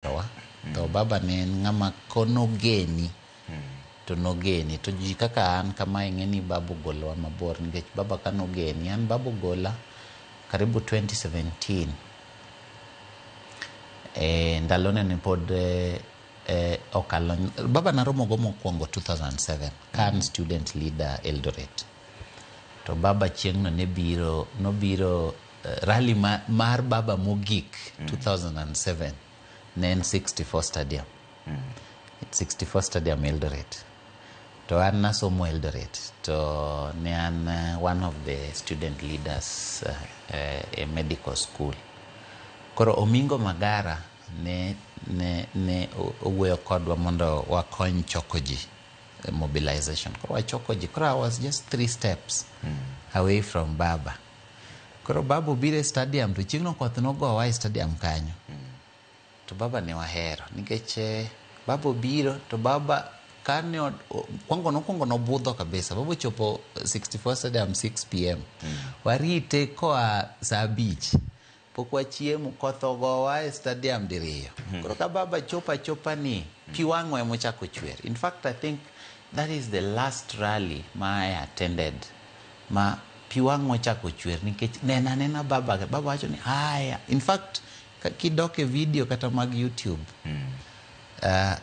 owewa to babani en ng'ama konogeni to nogeni to ji kaka an kama ing'e ni baba ogolowa mabor nikech baba ka nogeni an baba ogola karibu 2017 e, ndalone ni pod e, e, okalo baba naromogo mokwongo 2007 ka an student leader eldoret to baba chieng'no ne biro nobiro Rally ma, mar baba mogik 2007 ne en 64 stadium 64 stadium eldoret to an nasomo eldoret to ne an eh, one of the student leaders eh, eh, e medical school koro omingo magara ne, ne, ne o- owuoyo kodwa mondo wakony choko ji eh, mobilization koro wachoko ji koro i was just three steps away from baba koro baba obiro e stadium to chieng'no koth nogowa e stadium kanyo to baba ne wahero nikech eh, baba obiro to baba kane od- o- kwango nokwongo nobudho kabisa baba ochopo 64 stadium 6 pm warite koa saa abich Pok wachiemo, koth ogowa e stadium diriyo. Koro ka baba chopo achopa ni, pi wang'o ema ochako chwer. In fact, I think that is the last rally ma I attended ma pi wang'o ochako chwer nikech neno anena baba, baba wacho ni haya. In fact, ka- kidok e video kata mag YouTube, ah,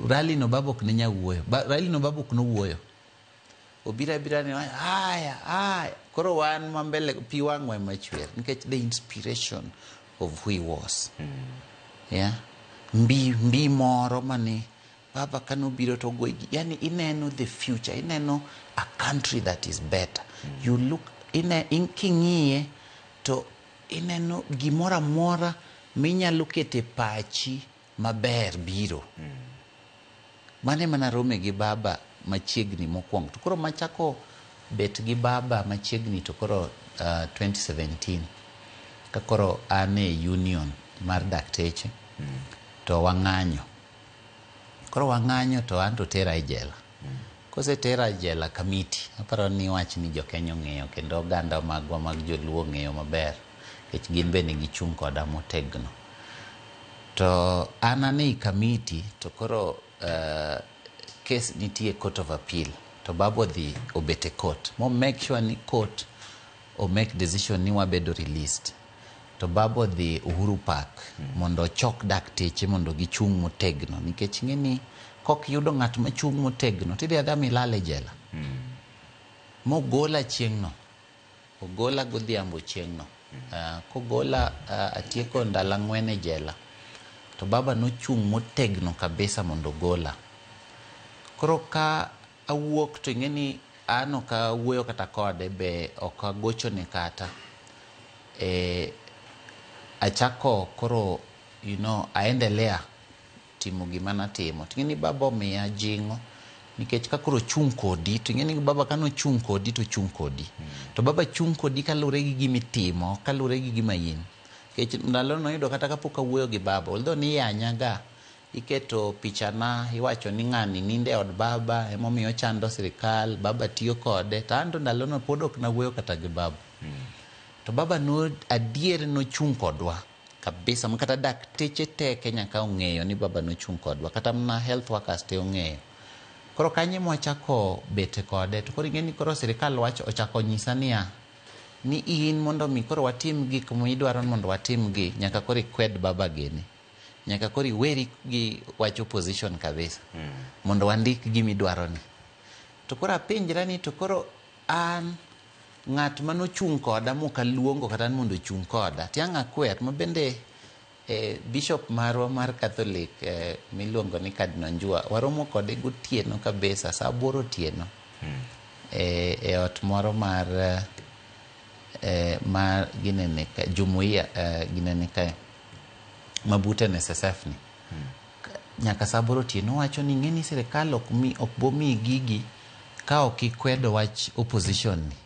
rally no baba ok ne nya wuoyo. Ba- Rally no baba ok nowuoyo. obira bira ni wacho, haya haya koro wan ma mbele pi wang'wa ema chwer nikech the inspiration of who he was yeah? mbi mbi moro mane baba kane obiro to ogwegi yani ineno the future ineno a country that is better you look ine, in, king'iye to ineno gimoro amora minyalo kete pachi maber biro. Mano ema narome gi baba machiegni mokwongo to koro machako bet gi baba machiegni to koro uh, 2017 ka koro an e union mar dakteche to wang'anyo koro wang'anyo to an to tera e jela Kosetera e jela kamiti, aparo ni wach ni jokenya ong'eyo kendo oganda magwa mag joluo ong'eyo maber nikech gin be ne gichung' koda motegno. To an ane i kamiti to koro uh, kes nitie court of appeal to babu odhi obet e court mo make sure ni court o make decision ni wabedo released to baba odhi Uhuru Park mondo ochok dakteche mondo gichung' motegno nikech ng'e ni kok yudo ng'at machung' motegno tidhi adha milal e jela. Mogola chieng'no, ogola godhiambo chieng'no. Ah, kogola ah, atieko ndalo ang'wen e jela to baba nochung' motegno kabisa mondo ogola. Koro ka Awuok to ing'eni an ok awuoyo kata kode be ok agochone kata. Eh, achako koro you know aendelea timo gima natimo. To ing'eni baba omiya jing'o nikech ka koro ochung' kodi to ing'eni baba ka nochung' kodi to ochung' kodi. To baba chung' kodi kaluwore gi gima itimo ok kaluwore gi gima in. Nikech ndalono noyudo kata kapok awuoyo gi baba, although niyanyaga, Iketo pichana iwacho ni ng'ani nindo e od baba emomiyo ochando sirikal, baba tiyo kode to anto ndalono pod ok nawuoyo kata gi baba. To baba no adier nochung' kodwa kabisa ma kata dakteche te Kenya ka ong'eyo ni baba nochung' kodwa kata mana health workers te ong'eyo. Koro kanyo ema wachako bet kode to koro ing'e ni koro sirikal wacho ochako onyisa niya, ni in mondo mi koro watim gik midwaro ni mondo watim gi nyaka koro ikwed baba gini. Nyaka koro iweri gi wach opposition kabisa mm. mondo wandik gima idwaroni. To koro apenjra ni to koro an ng'at ma nochung' koda mok aluongo kata ni mondo ochung' koda tiang' akwer ma bende eh, bishop marwa mar Catholic eh, miluongo ni Cardinal Njua waromo kode gotieno kabisa saa aboro otieno mm. eh, e ot moro mar eh, eh mar ginene jumuiya eh, ginene kae mabute NSSF ni nyaka saa aboro otieno wacho ni ng'eni sirikal ok mi ok bomi gigi ka ok ikwedo wach opposition ni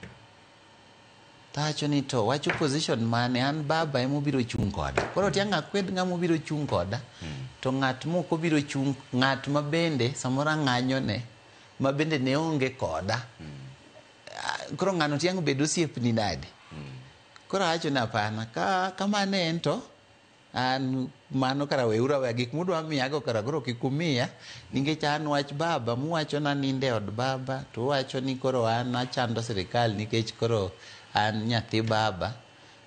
tawacho ni to wach opposition mane an baba ema obiro chung' koda koro tiang' akwed ng'ama obiro chung' koda to ng'at mok obiro chung' ng'at ma bende samoro ang'anyone ma bende ne onge koda Ah, koro ng'ano tiang' bed osiepni nade Koro awacho ni apana, ka kamano en to an mano kara weuru aweya gik mudwa miyago kara koro kik umiya nikech an wach baba muwacho na ninde od baba to uwacho ni koro an achando sirikal nikech koro an nyathi baba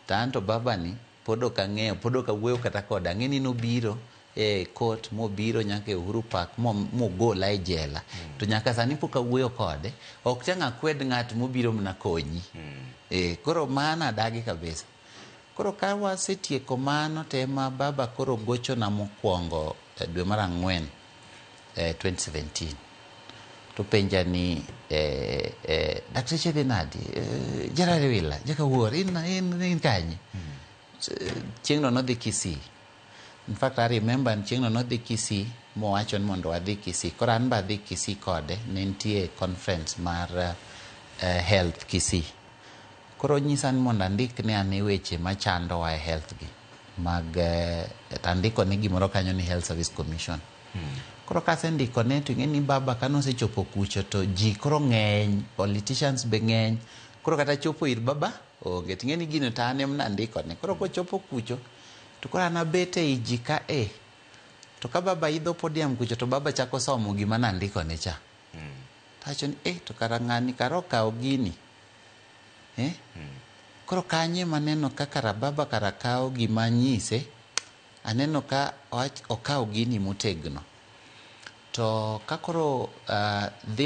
to an to babani pod ok ang'eyo pod ok awuoyo kata kode ang'e ni nobiro e court mobiro nyaka e Uhuru Park mo, mogola e jela to nyaka sani pok awuoyo kode ok chang akwed ng'at mobiro mna konyi e, koro mano adagi kabisa koro ka wasetieko mano to ema baba koro gochona mokwongo e, dwe mar ang'wen e, 2017 to penja ni eh, eh, dakteche dhi nadi eh, jarari wila jakawuor in, in, in kanye chieng'no nodhi Kisii. In fact, I remember chieng'no nodhi Kisii mowacho ni mondo wadhi Kisii. Koro an be adhi Kisii kode, ne nitie conference mar uh, health Kisii. Koro nyisa ni mondo andik ne ane weche machandowa e health gi mag uh, tandiko ne gimoro kanyo ni Health Service Commission. Hmm. Koro kasendiko ne to ing'e ni baba kane osechopo kucho to ji koro ng'eny, politicians be ng'eny. Koro kata chopo ir baba Onge. Ting'e ni gino to an em nandiko ne. Koro kochopo kucho to koro an abet e i ji ka e. To ka baba idho podium kucho to baba chako somo gima nandiko ne cha. To awacho ni eh to kara ng'ani kara okawo gini. Eh? Koro kanyo ema aneno ka kara baba kara kawo gima anyise. Aneno ka okawo gini motegno. To ka koro dhi